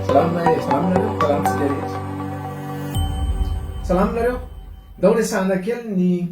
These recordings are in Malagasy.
Salama e, salama nareo, salama tsika rehetra. Salama nareo. Ndao resahana kely ny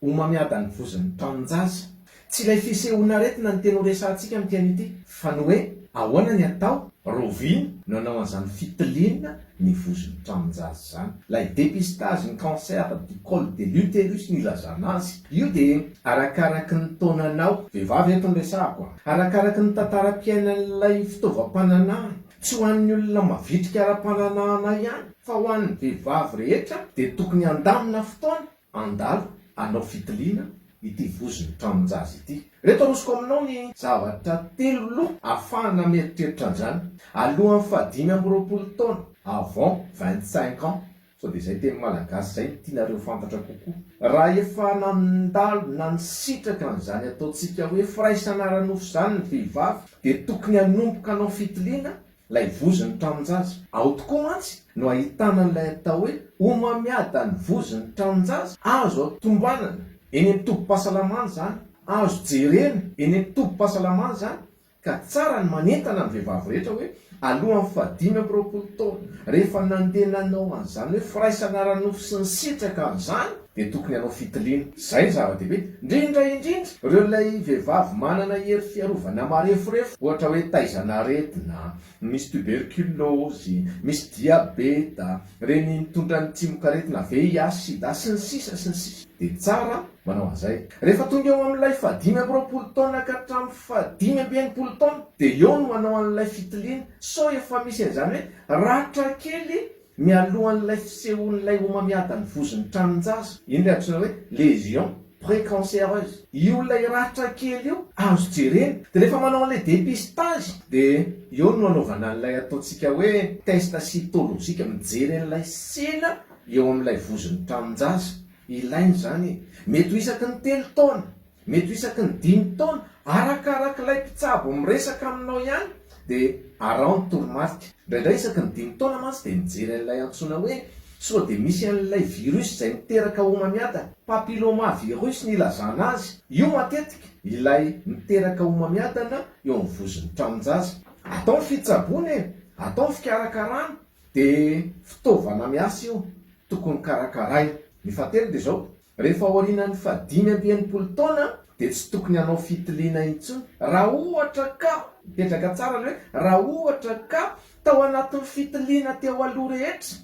homamiadan'ny vozon'ny taninjaza. Tsy ilay fisehoan'aretina no tena ho resahantsika amin'ity anio ity, fa ny hoe ahoana ny atao, Rovina no hanao an'izany fitiliana ny vozon'ny taninjaza izany. Ilay dépistage ny cancer du col de l'uterus no ilazana azy. Io dia arakaraky ny taonanao. Vehivavy eto no resahako a. Arakaraky ny tantaram-piainan'ilay fitaovam-pananahana. Tsy ho an'ny olona mavitrika ara-pananahana ihany fa ho an'ny vehivavy rehetra dia tokony handamina fotoana handalo hanao fitiliana ity vozon'ny tranon-jaza ity. Ireto arosoko aminao ny zavatra telo loha afahana mieritreritra an'izany. Alohan'ny fahadimy amby roapolo taona, avant vingt-cinq ans, Sao dia zay teny malagasy zay no tianareo fantatra kokoa? Raha efa nandalo na nisitraka an'izany ataontsika hoe firaisana ara-nofo izany ny vehivavy dia tokony hanomboka hanao fitiliana ilay vozon'ny tranon-jaza. Ao tokoa mantsy no ahitana an'ilay atao hoe homamiada ny vozon'ny tranon-jaza. Azo tombanana eny amin'ny tobim-pahasalamana izany, azo jerena eny amin'ny tobim-pahasalamana izany Ka tsara ny manentana ny vehivavy rehetra hoe alohan'ny faha dimy amby roapolo taona, rehefa nandeha nanao an'izany hoe firaisana ara-nofo sy nisitraka an'izany, dia tokony hanao fitiliana. Izay no zava-dehibe. Indrindra indrindra, ireo ilay vehivavy manana hery fiarovana mareforefo, ohatra hoe taizan'aretina, misy tuberculose, misy diabeta, reny mitondra ny tsimokaretina VIH, sida sy ny sisa sy ny sisa dia tsara manao an'izay. Rehefa tonga eo amin'ilay fahadimy amby roapolo taona ka hatramin'ny fahadimy amby enimpolo taona dia eo no manao an'ilay fitiliana sao efa misy an'izany hoe ratra kely Mialohan'ilay fisehoan'ilay homamiadan'ny vozon'ny tranon-jaza, iny ilay antsoina hoe lésion précancéreuse, io ilay ratra kely io azo jerena, dia rehefa manao an'ilay dépistage dia eo no anaovana an'ilay ataontsika hoe test cytologique, mijery an'ilay sela eo amin'ilay vozon'ny tranon-jaza, ilaina izany e! mety ho isaky ny telo taona. Mety ho isaky ny dimy taona, arakarak'ilay mpitsabo miresaka aminao ihany, dia araho ny toromarika. Indraindray isaky ny dimy taona mantsy dia mijery an'ilay antsoina hoe sao dia misy an'ilay virus izay miteraka homamiada, papilloma virus ny ilazana azy, io matetika ilay miteraka homamiadana eo amin'ny vozon'ny tranon-jaza. Atao ny fitsaboana e! Atao ny fikarakarana, dia fitaovana miasa io, tokony karakaraina. Ny fahatelo dia izao, Rehefa aorianan'ny fahadimy amby enimpolo taona dia tsy tokony hanao fitiliana intsony raha ohatra ka, mipetraka tsara ilay hoe raha ohatra ka, tao anatin'ny fitiliana teo aloha rehetra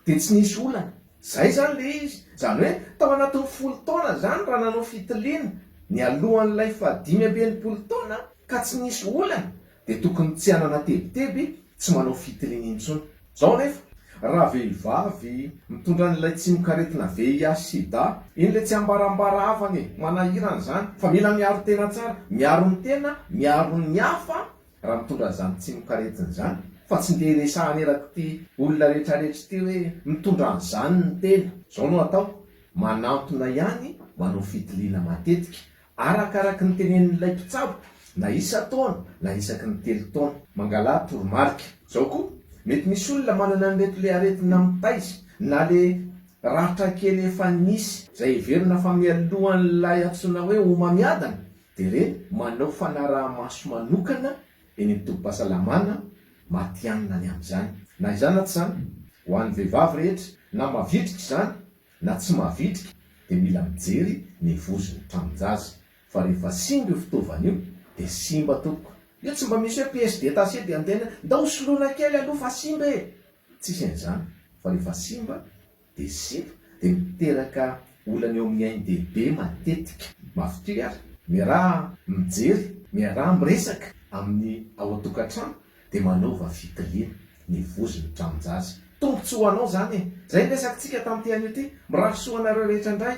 dia tsy nisy olana. Izay izany ilay izy. Izany hoe tao anatin'ny folo taona izany raha nanao fitiliana nialohan'ilay fahadimy amby enimpolo taona ka tsy nisy olana dia tokony tsy hanana tebiteby tsy manao fitiliana intsony. Zao anefa, raha vehivavy mitondra an'ilay tsimokaretina VIH-sida iny le tsy ambarambara havana e, manahirana izany fa mila miaro tena tsara, miaro ny tena, miaro ny hafa raha mitondra an'izany tsimokaretina izany fa tsy ndeha hiresahana erak'ity olona rehetrarehetra ity hoe mitondra an'izany ny tena. Zao no atao, manantona ihany, manao fitiliana matetika, Arakaraky ny tenenin'ilay mpitsabo, na isan-taona na isaky ny telo taona. Mangalà toromarika. Zao koa, mety misy olona manana an'ireto le aretina mitaiza na le ratra kely efa nisy, zay heverina fa mialohan'ilay antsoina hoe homamiadana de re manao fanaraha-maso manokana eny amin'ny tobim-pahasalamana matihanina ny amin'izany. Na izany na tsy izany, ho an'ny vehivavy rehetra na mavitrika izany, Na tsy mavitrika dia mila mijery ny vozon'ny tranon-jaza fa rehefa simba io fitaovana io dia simba tompoko. Io tsy mba misy hoe pièce détachée dia miteny hoe ndao soloina kely aloha fa simba e! Tsisy an'izany fa rehefa simba dia simba dia miteraka olana eo amin'ny ainy dehibe matetika. Mafy toy ary. Miaraha mijery, miaraha miresaka amin'ny ao an-tokantrano Dia manaova fitiliana, ny vozy ny tranon-jaza. Tombotsoa ho anao izany e! Izay ny resakitsika tamin'ity anio ity. Mirary soa anareo rehetra indray.